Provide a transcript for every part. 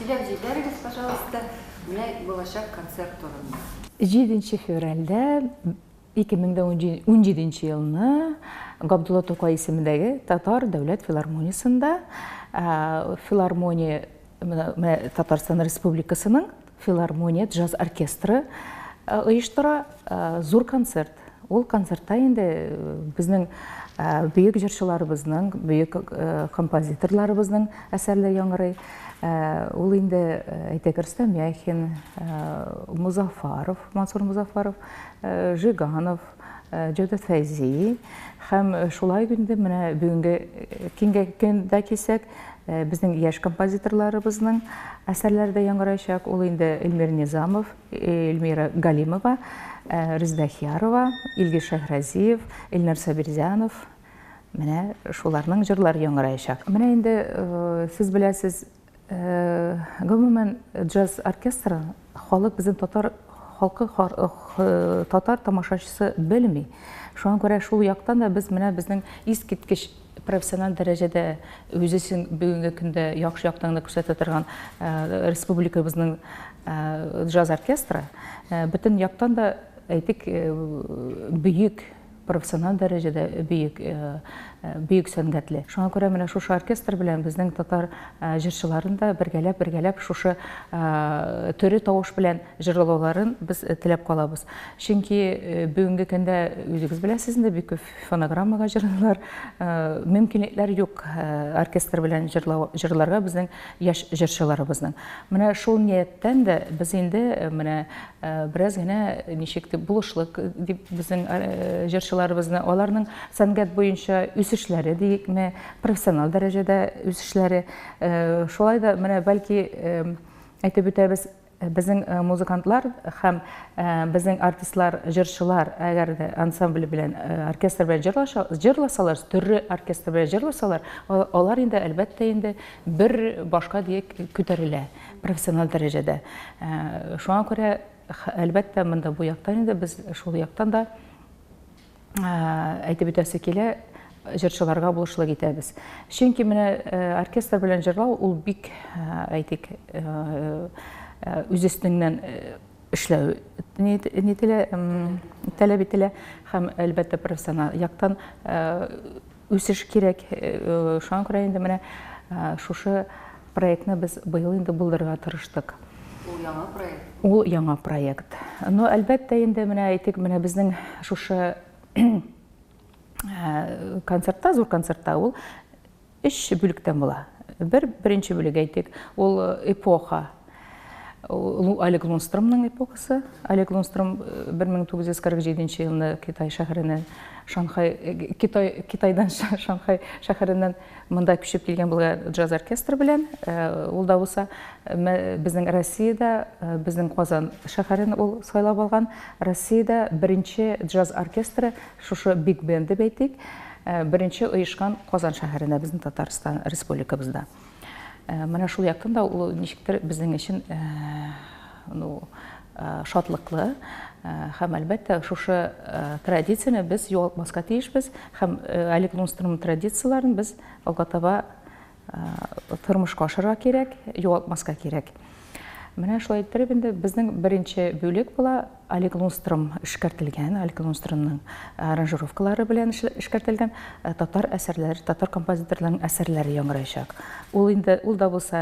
Сөйләп җибәрегез, пожалуйста, менә булачак концерт турында. Җиденче февральдә, ике мең дә унҗиденче елны Габдулла Тукай исемендәге Татар дәүләт филармониясендә филармония Татарстан Республикасының филармония джаз оркестры оештыра зур концерт. Ул концертта инде безнең бөек җырчыларыбызның, бөек композиторларыбызның әсәрләре яңгырый. Ул инде әйтәк Рөстәм Яхин, Музафаров, Мансур Музафаров, Жиганов, Җәүдәт Фәйзи һәм шулай инде менә бүгенге киңгә көндә кисәк, безнең яшь композиторларыбызның әсәрләре дә яңгыраячак. Ул инде Эльмир Низамов, Эльмира Галимова, Резда Хиярова, Илгиз Шәһразиев, Эльнар Сабирзянов. Менә шуларның җырлар яңгыраячак. Менә инде сез беләсез, гомумән джаз оркестры халык безнең татар халкы татар тамашачысы белми. Шуңа күрә шул яктан да без менә безнең искиткеч профессиональ дәрәҗәдә үз эшен бүгенге көндә яхшы яктан гына күрсәтә торган республикабызның джаз оркестры бөтен яктан да әйтик бөек профессиональ дәрәҗәдә бөек бөек сәнгатьле шуңа күрә менә шушы оркестр белән безнең татар җырчыларын да бергәләп бергәләп шушы төре тавыш белән җырлауларын без теләп калабыз чөнки бүгенге көндә үзегез беләсез инде бик күп фонограммага җырлыйлар. Мөмкинлекләр юк оркестр белән җырларга безнең яшь җырчыларыбызның. Менә шул нияттән дә без инде менә бераз генә ничек дип булышлык дип безнең җырчыларыбызны, аларның сәнгать буенча үсешләре диекме, профессиональ дәрәҗәдә үсешләре. Шулай да менә бәлки әйтеп үтәбез, Безнең музыкантлар һәм безнең артистлар, җырчылар, әгәр дә ансамбль белән, оркестр белән җырлаша, җырласалар, төрле оркестр белән җырласалар, алар инде, әлбәттә инде, бер башка диек күтәрелә, профессиональ дәрәҗәдә. Шуңа күрә, әлбәттә, монда бу яктан инде без шул яктан да әйтеп үтәсе килә, җырчыларга булышлык итәбез. Чөнки менә оркестр белән җырлау ул бик, әйтик, үз өстеңнән эшләү нителә, таләп ителә һәм әлбәттә профессиональ яктан Үсеш кирәк. Шуңа күрә инде менә шушы проектны без быел инде булдырырга тырыштык. Ул яңа проект? Ул яңа проект. Но, әлбәттә, инде менә әйтик, менә безнең шушы концертта, зур концертта ул өч бүлектән була. Бер, беренче бүлек әйтик, ул эпоха. Лу Олег Лунстромның эпохасы. Олег Лунстром 1947 э, елында Китай шәһәренә Шанхай э, Китай Китайдан Шанхай шәһәреннән монда күчеп килгән булган джаз оркестры белән э, ул да булса безнең Россиядә безнең Казан шәһәрен ул сайлап алган Россиядә беренче джаз оркестры шушы биг бенды бәйтик беренче оешкан Казан шәһәренә безнең Татарстан республикабызда Менә шул яктан да ул ничектер безнең өчен ну шатлыклы һәм әлбәттә шушы традицияне без югалтмаска тиешбез һәм Олег Лунстром традицияләрен без алга таба тормышка ашырга кирәк, югалтмаска кирәк. Менә шулай иттереп инде безнең беренче бүлек була. Олег Лунстром эшкәртелгән, Олег Лунстромның аранжировкалары белән эшкәртелгән татар әсәрләре, татар композиторларының әсәрләре яңгыраячак. Ул инде ул да булса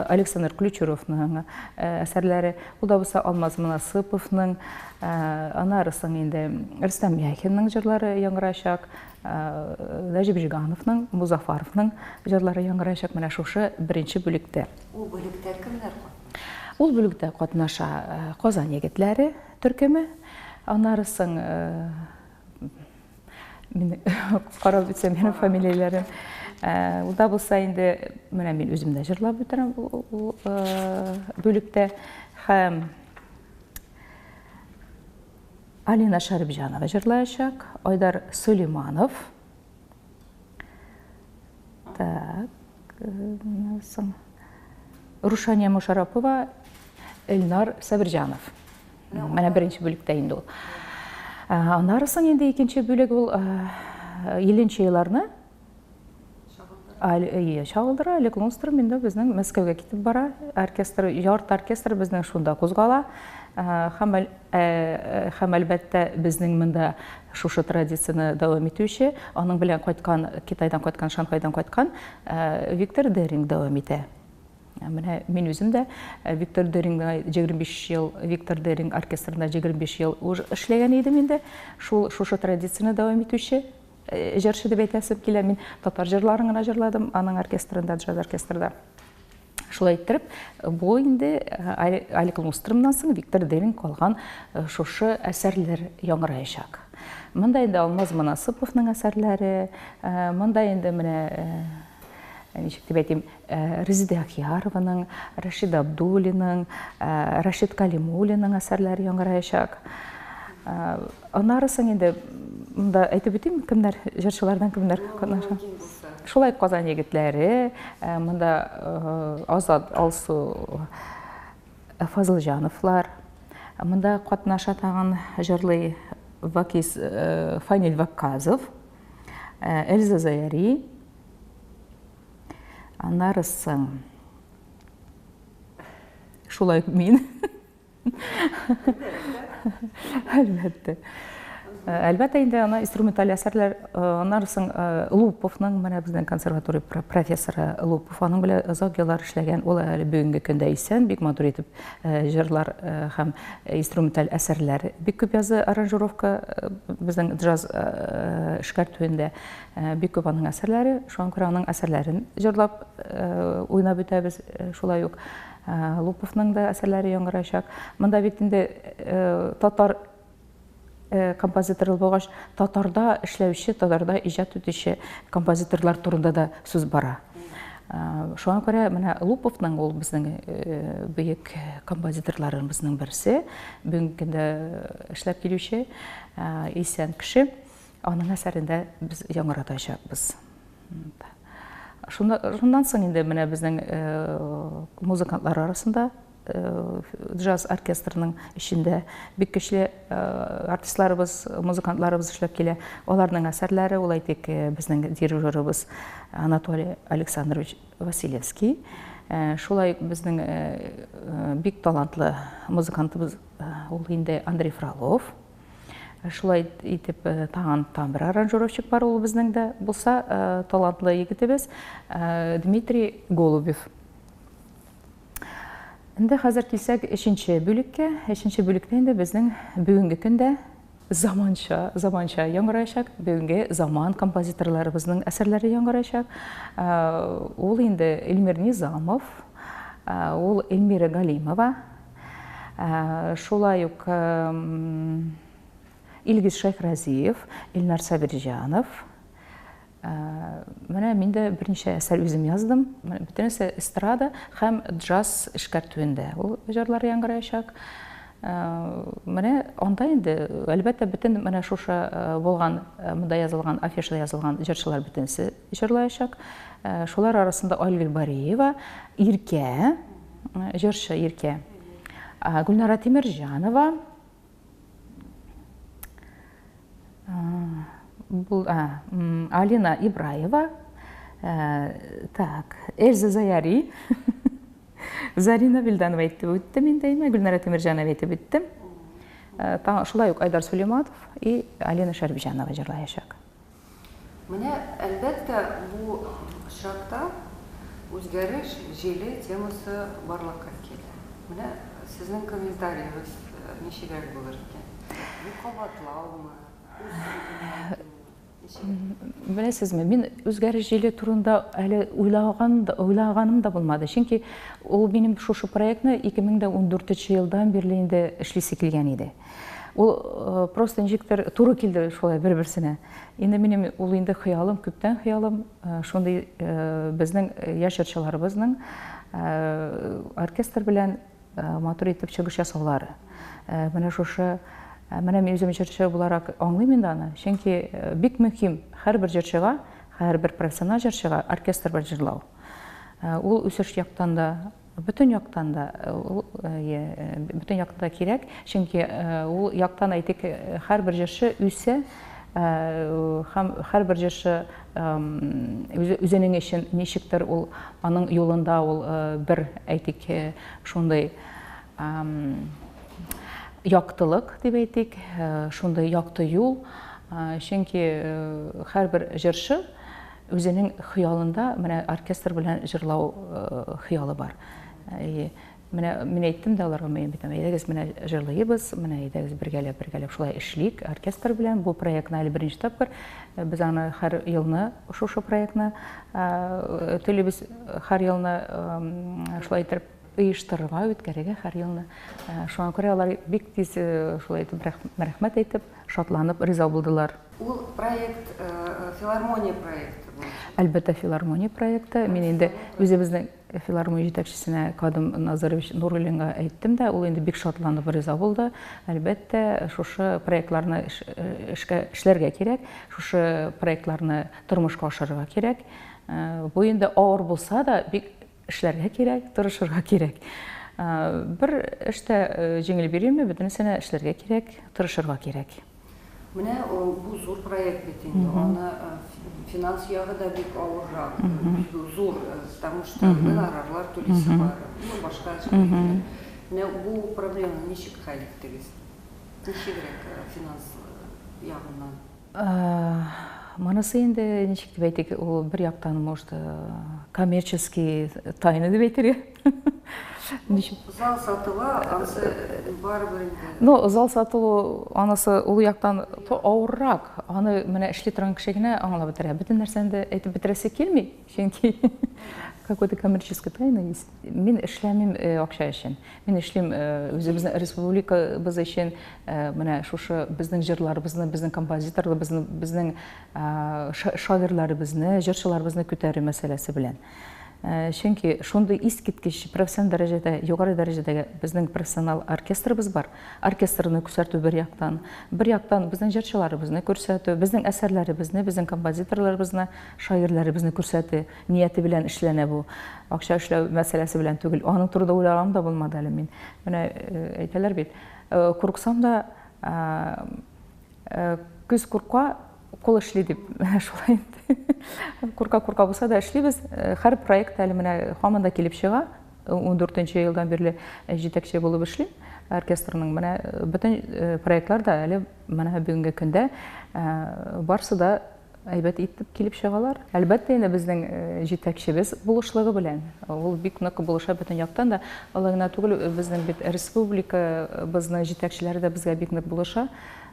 Александр Ключуровның әсәрләре, ул да булса Алмаз Мунасыповның, аннары соң инде Рөстәм Яхинның җырлары яңгыраячак, Нәҗип Җигановның, Музафаровның җырлары яңгыраячак менә шушы беренче бүлектә. Ул бүлектә кемнәр катнаша? Ул бүлектә катнаша Казан егетләре төркеме, аннары соң мин карап үтсәм һәм фамилияләрен ул да булса инде менә мин үзем дә җырлап үтерәм ул бүлектә һәм Алина Шәрипҗанова җырлаячак, Айдар Сулейманов, Так, менә соң. Рушания Мушарапова, Эльнар Сабирҗанов. Менә беренче бүлектә инде ул. Аннары соң инде икенче бүлек ул Еленче еларны Чагылдыра, Олег Лунстром инде безнең Мәскәүгә китеп бара. Оркестр, ярты оркестр безнең шунда кузгала. Һәм Һәм, әлбәттә, безнең монда шушы традицияне дәвам итүче, аның белән кайткан, Китайдан кайткан, Шанхайдан кайткан Виктор Деринг дәвам итә. Менә мин үзем дә Виктор Дерингны 25 ел, Виктор Деринг оркестрында 25 ел уж эшләгән идем инде. Шул, шушы традицияне дәвам итүче җырчы дип әйтәсем килә. Мин татар җырларын гына җырладым аның оркестрында, джаз оркестрында. Шулай иттереп, бу инде Алик Лунстромнан соң Виктор Демин калган шушы әсәрләр яңгыраячак. Монда инде Алмаз Манасыповның әсәрләре, монда инде менә ничек дип әйтим, Резеде Ахиярованың, Рашид Абдуллиның, Рашид Калимуллиның әсәрләре яңгыраячак. Аннары соң инде монда әйтеп үтим, кемнәр җырчылардан кемнәр катнаша. Шулай Казан егетләре, э, монда э, Азат Алсу э, Фазылҗановлар, монда катнаша тагын җырлый Вакис Фаниль Вакказов, Эльза Заяри. Аннары соң шулай мин Әлбәттә. Әлбәттә инде ана инструменталь әсәрләр аннары соң Луповның менә безнең консерватория профессоры Лупов аның белән озак еллар эшләгән. Ул әле бүгенге көндә исән, бик матур итеп җырлар һәм инструменталь әсәрләр бик күп язды аранжировка безнең джаз эшкәртүендә бик күп аның әсәрләре. Шуңа күрә аның әсәрләрен җырлап уйнап үтәбез шулай ук. Луповның да әсәрләре яңгыраячак. Монда бит инде татар композиторы булгач, татарда эшләүче, татарда иҗат итүче композиторлар турында да сүз бара. Шуңа күрә менә Луповның ул безнең бөек композиторларыбызның берсе, бүгенге көндә эшләп килүче исән кеше. Аның әсәрендә без яңгыратачакбыз. Шуннан соң инде менә безнең музыкантлар арасында джаз оркестрының эчендә бик көчле артистларыбыз, музыкантларыбыз эшләп килә. Аларның әсәрләре, ул әйтик, безнең дирижерыбыз Анатолий Александрович Василевский. Э, шулай безнең э, э, бик талантлы музыкантыбыз ул инде андрей фролов Шулай итеп, э, тагын тагын бер аранжировщик бар, ул безнең дә булса э, талантлы егетебез э, Дмитрий Голубев. Инде хәзер килсәк өченче бүлеккә. Өченче бүлектә инде безнең бүгенге көндә заманча, заманча яңгыраячак, бүгенге заман композиторларыбызның әсәрләре яңгыраячак. Ул инде Эльмир Низамов, ул Эльмира Галимова, Шулай ук Илгиз Шәйхразиев, Илнар Сабирҗанов. Менә мин дә берничә әсәр үзем яздым. Бөтенесе эстрада һәм джаз эшкәртүендә ул җырлар яңгыраячак. Менә анда инде, әлбәттә, бөтен менә шушы булган, монда язылган, афишада язылган җырчылар бөтенесе җырлаячак. Шулар арасында Айгөл Бариева, Иркә, Җырчы Иркә Гөлнара Тимерҗанова бу Алина Ибраева так Эльза Заяри Зарина Вильданова әйтеп үттем инде әйме, Гөлнара Тимирҗанова әйтеп үттем. Э, шулай ук Айдар Сулейматов и Алина Шәрбиҗанова җырлаячак. Менә, әлбәттә, бу очракта үзгәреш җиле темасы барлыкка килә. Менә сезнең комментариегыз ничегрәк булыр икән? Бу кабатлаумы, үз сүзенә әйтүме? Ничегрәк? Беләсезме, мин үзгәреш җиле турында әле уйлаган да, уйлаганым да булмады. Чөнки ул минем шушы проектны 2014 елдан бирле инде эшлисе килгән иде. Ул э, просто ничектер туры килде шулай бер-берсенә. Инде минем ул инде хыялым, күптән хыялым, э, шундый э, безнең яшь җырчыларыбызның оркестр белән матур итеп чыгыш ясаулары. Менә шушы менә мин үзем җырчы буларак аңлыйм инде аны, чөнки бик мөһим һәрбер җырчыга, һәрбер профессиональ җырчыга оркестр белән җырлау. Ул үсеш яктан да Бөтен яктан да ул бөтен яктан да кирәк, чөнки ул яктан, әйтик, һәрбер җырчы үсә һәм һәрбер җырчы үзенең өчен ничектер ул аның юлында ул бер, әйтик, шундый яктылык дип әйтик, шундый якты юл, чөнки һәрбер җырчы Үзенең хыялында менә оркестр белән җырлау хыялы бар. И менә мин әйттем дә аларга, мин бит әйдәгез менә җырлыйбыз, менә әйдәгез бергәләп бергәләп шулай эшлик оркестр белән. Бу проектны әле беренче тапкыр без аны һәр елны шушы проектны телибез, һәр елны шулай итеп оештырырга, үткәрергә һәр елны. Э, шуңа күрә алар бик тиз э, шулай итеп рәхмәт әйтеп, шатланып риза булдылар. Ул проект э, филармония проекты бу. Әлбәттә, филармония проекты. Мин инде үзебезнең филармония җитәкчесенә Кадым Назарович Нуруллинга әйттем дә, ул инде бик шатланып риза булды. Әлбәттә, шушы проектларны эшкә эшләргә кирәк, шушы проектларны тормышка ашырырга кирәк. Бу инде авыр булса да, бик Эшләргә кирәк, тырышырга кирәк. Бер эш тә җиңел бирелми, бөтенесенә эшләргә кирәк, тырышырга кирәк. Менә бу зур проект бит инде, аны финанс ягы да бик авыррак, зур, потому что гонорарлар түлисе бар, ну башка эшләр. Менә бу проблеманы ничек хәл иттегез? Ничегрәк финанс ягыннан? Монысы инде, ничек дип әйтик, ул бер яктан, может, коммерческий тайны дип әйтергә. Зал сатуы, анысы барыбер инде. Ну, зал сатуы, анысы ул яктан авыррак. Аны менә эшли торган кеше генә аңлап бетерә. Бөтен нәрсәне дә әйтеп бетерәсе килми. Чөнки какой-то коммерческий тайна есть. Мин эшләмим э, акча өчен. Мин эшлим э, үзебезнең республикабыз өчен, э, менә шушы безнең җырларыбызны, безнең композиторларыбызны, безнең шагыйрьләребезне, җырчыларыбызны күтәрү мәсьәләсе белән. Чөнки шундый искиткеч профессионал дәрәҗәдә, югары дәрәҗәдәге безнең профессионал оркестрыбыз бар. Оркестрны күрсәтү бер яктан, бер яктан безнең җырчыларыбызны күрсәтү, безнең әсәрләребезне, безнең композиторларыбызны шагыйрьләребезне күрсәтү нияте белән эшләнә бу. Акча эшләү мәсьәләсе белән түгел. Аның турында уйлаганым да булмады әле мин. Менә э, әйтәләр бит, э, курыксам да э, күз курка, кул эшли дип шулай инде курка курка булса да эшлибез һәр проект әле менә һаман да килеп чыга он дүртенче елдан бирле җитәкче булып эшлим оркестрның менә бөтен проектлар да әле менә бүгенге көндә барысы да әйбәт итеп килеп чыгалар. Әлбәттә, инде безнең җитәкчебез булышлыгы белән. Ул бик нык булыша бөтен яктан да. Алай гына түгел, безнең бит республикабызның җитәкчеләре дә безгә бик нык булыша.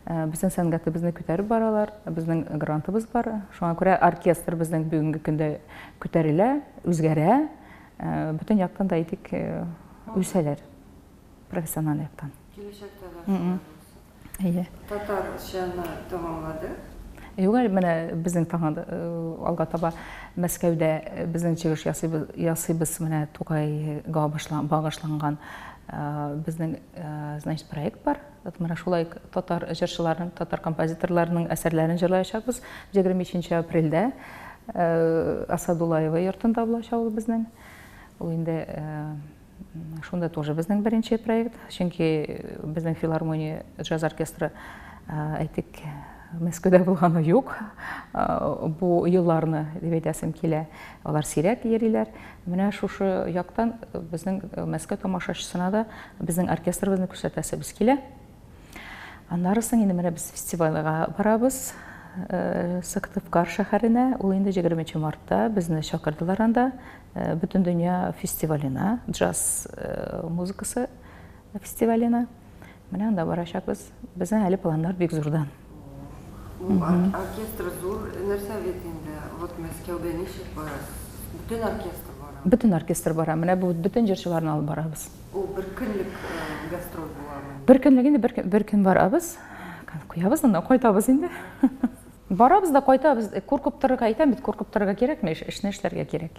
Безнең сәнгатебезне күтәреп баралар. Безнең грантыбыз бар. Шуңа күрә оркестр безнең бүгенге көндә күтәрелә, үзгәрә. Бөтен яктан да әйтик, үсәләр профессиональ яктан. Киләчәктә дә шулай булсын. Әйе. Татарчаны тәмамлады? Юк әле менә безнең таңа э, алга таба Мәскәүдә э, безнең чыгыш ясыйбыз, ясыйбыз менә Тукайга багышланган э, безнең значит проект бар. Менә шулай татар җырчыларының, татар композиторларының әсәрләрен җырлаячакбыз. 23 апрельдә Асадулаева йортында булачак ул безнең. Ул инде Шунда тоже безнең беренче проект, чөнки безнең филармония джаз оркестры әйтик Мәскәүдә булганы юк. Бу елларны дип әйтәсем килә. Алар сирәк йөриләр. Менә шушы яктан безнең Мәскәү тамашачысына да безнең оркестрыбызны күрсәтәсебез килә. Аннары соң инде менә без фестивальгә барабыз. Сыктывкар шәһәренә. Ул инде 23 мартта безне чакырдылар анда. Бөтен дөнья фестиваленә, джаз музыкасы фестиваленә. Менә анда барачакбыз. Безнең әле планнар бик зурдан. Бу оркестр зур нәрсә бит инде. Вот Мәскәүгә ничек бара? Бөтен оркестр барамы? Бөтен оркестр бара. Менә бу бөтен җырчыларны алып барабыз. Ул бер көнлек гастроль буламы? Бер көнлек инде, бер көн барабыз. Куябыз анда, кайтабыз инде. Барабыз да кайтабыз. Куркып торырга әйтәм бит, куркып торырга кирәкми, эшне эшләргә кирәк.